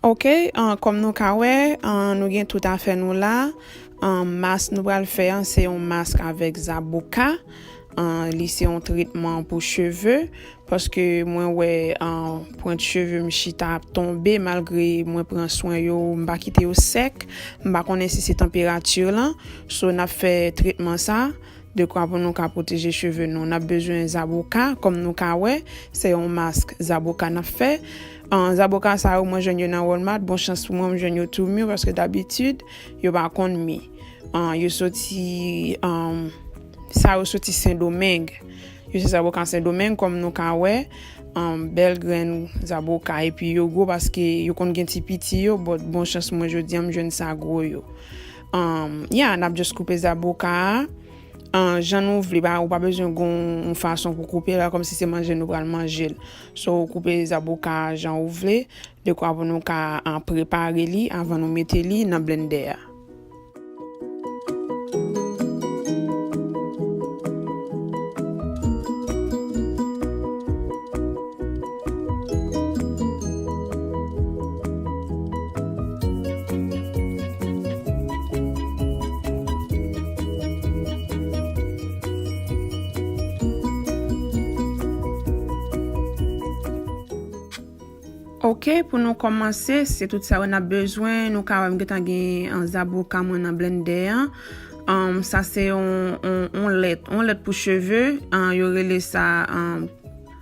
Ok kòm nou ka wè nou gen tout afè nou la mask nou pral fè an se yon mask avèk zaboka li se yon tretman pou cheve paske mwen wè pwent cheve m chita ap tonbe malgre mwen pran swen yo m pa kite yo sèk m pa konnen si se tanperati lan so n ap fè tretman sa. Dekwa pou nou ka pwoteje cheve nou, n ap bezwen zaboka, kòm nou ka wè, se yon mask zaboka n ap fè. Zaboka sa yo, mwen jwenn yo nan Walmart, bon chans pou mwen, m jwenn yo tou mi, paske dabitid, yo pa konn mi. Yo soti, sa yo soti Sendomeng. Yo se zaboka Sendomeng, kòm nou ka wè, bèl grenn zaboka, epi yo gwo paske yo konn gen ti piti yo, bon chans mwen jodi an, m jwenn sa gwo yo. Um, yeah, nap just koupe zaboka a. An, jan nou vle, ba, ou pa bezwen gon fason pou koupe la, kom si se manje nou pral manje l. So, ou koupe zaboka a jan ou vle, de kwa pou nou ka an prepare li avan nou mete li nan blendè a. Ok pou nou komanse se tout sa yo nap bezwen nou ka wèm getan gen an zaboka mwen nan blendè an an sa se yon yon lèt yon lèt pou cheve an yo rele sa an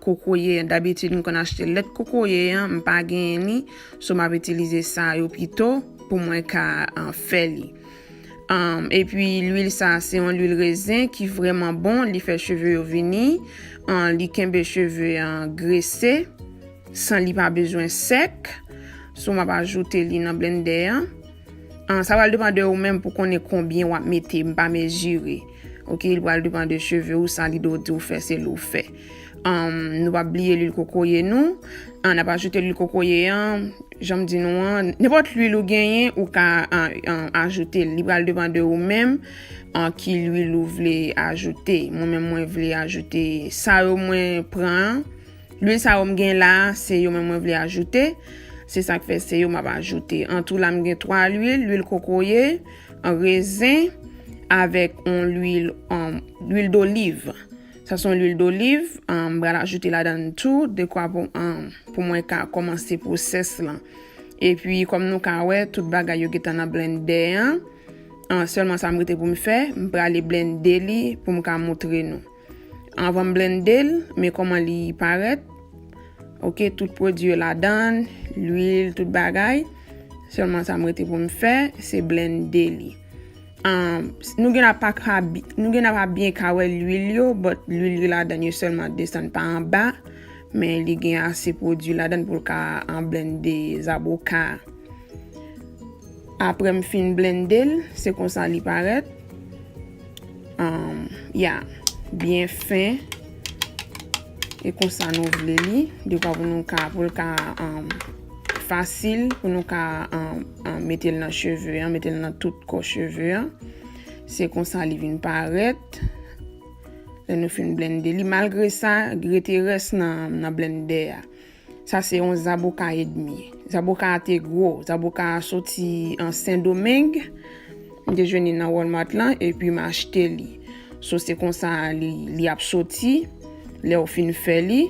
kokoye dabitid m konn achte lèt kokoye an m pa genyen li so map itilize sa yo pito pou mwen ka fè li epi lwil sa se yon lwil rezen ki vreman bon li fè cheve yo vini li kenbe cheve an grese san li pa bezwen sèk so map ajoute li nan blendè an. An sa pral depan de ou menm pou konnen konbyen wap mete m pa mezire ok li pral depan de cheve ou sa lide ou diw fè se li ou fè anm nou pap bliye lwil kokoye nou an nap ajoute lwil kokoye an janm di nou an nenpòt lwil ou genyen ou ka ajoute li pral depan de ou menm an ki lwil ou vle ajoute mwen menm mwen vle ajoute sa yo mwen pran an. Lwil sa yo m gen la a se yo menm mwen vle ajoute, se sak fè se yo map ajoute. An tou la m gen 3 lwil, lwil kokoye, rezen avèk on lwil lwil doliv. Sa son lwil doliv, m pral ajoute ladan tou dekwa pou pou mwen ka kòmanse pwosès lan. Epi kòm nou ka wè tout bagay yo gentan nan blendè an, sèlman sa m rete pou m fè, m prale blende li pou m ka moutre nou. Avan m blende l, men kòman li parèt. Ok, tout pwodui yo ladan, lwil, tout bagay. Sèlman sa m rete pou m fè, se blende li. Nou gen ap pa byen ka wè lwil yo, bòt lwil yo ladan yo sèlman desann pa anba. Men li gen ase pwodui ladan pou l ka an blende zaboka. Apre m fin blende l, se konsa li parèt. Ya byen fen. E konsa nou vle li. De pa pou nou ka pou l ka fasil pou nou ka mete l nan cheve an. Mete l nan tout kò cheve an. Se konsa li vin parèt. Lè nou fin blende li. Malgre sa, rete rès nan blende a. Sa se yon zaboka edmi. Zaboka a te gwo. Zaboka a soti an Sendomeng. M te jwenn li nan Walmart lan epi m achte li. So se konsa li ap soti lè ou fin fè li.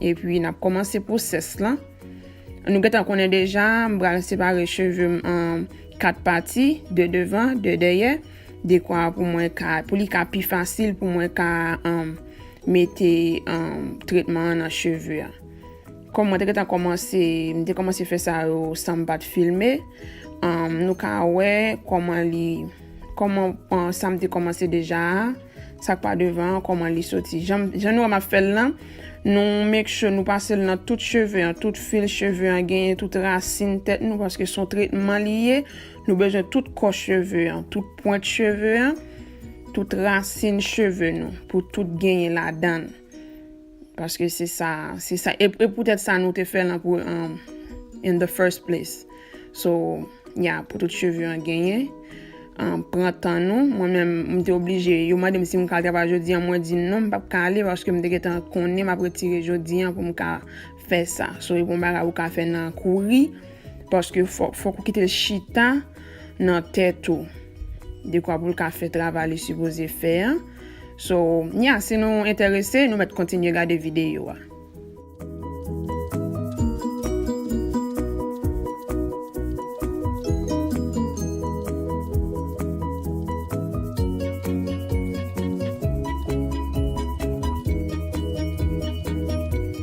Epi n ap kòmanse pwosès lan. Nou gentan konnen deja m pral separe cheve m an 4 pati, 2 devan, 2 dèyè. Dekwa pou mwen ka, pou li ka pi fasil pou mwen ka mete tretman an nan cheve a. Kòm mwen te gentan kòmanse, mwen te kòmanse fè sa yo san m pa t filme, nou ka wè kòman li, kòman sa m te kòmanse deja a, sa k pa devan an, kòman li soti. Jan nou wè m ap fè l lan, nou make sure nou pase l nan tout cheve an, tout fil cheve an genyen, tout rasin tèt nou paske son tretman li ye. Nou bezwen tout kò cheve an, tout pwent cheve an, tout rasin cheve nou pou tout genyen ladann. Paske se sa, se sa, e pou tèt sa nou te fè lan pou an, in the first place. So, ya, pou tout cheve an genyen. An, pran tan nou, mwen men m te oblije, yo mande m si m ka travay jodi an, mwen di non m pap ka ale paske m te getan konnen m ap retire jodi an pou m ka fè sa. So, e pou m bagay ou ka fè nan kouri. Paske fòk ou kite l chita nan tèt ou. Dekwa pou l ka fè travay li sipoze fè an. So, ya, si nou enterese, nou mèt kontinye gade videyo a.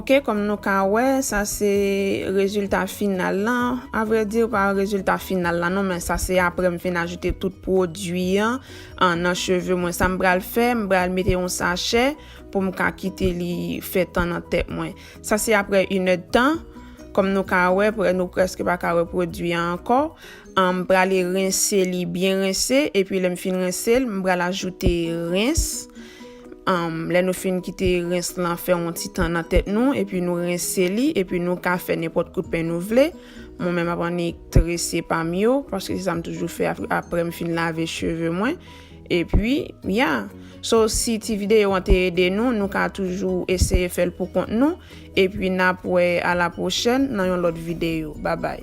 Ok kom nou ka wè sa se rezilta final la, a vrè di pa rezilta final la non men sa se aprè m fin ajoute tout pwodui an nan cheve mwen sa m pral fè m pral mete yon sachè pou m ka kite li fè tan nan tèt mwen sa se aprè 1 èd tan kom nou ka wè nou preske pa ka wè pwodui an ankò. M prale rense li byen rense epi lè m fin rense l m pral ajoute rens lè nou fin kite rens lan fè yon ti tan nan tèt nou epi nou rense li epi nou ka fè nenpòt kout pen nou vle mwen menm ap annik trese pa m yo paske se sa m toujou fè aprè m fin lave cheve mwen Epi, ya. So, si ti videyo an te ede nou, nou ka toujou eseye fè l pou kont nou. Epi, n ap wè a la pwochèn nan yon lòt videyo. Babay!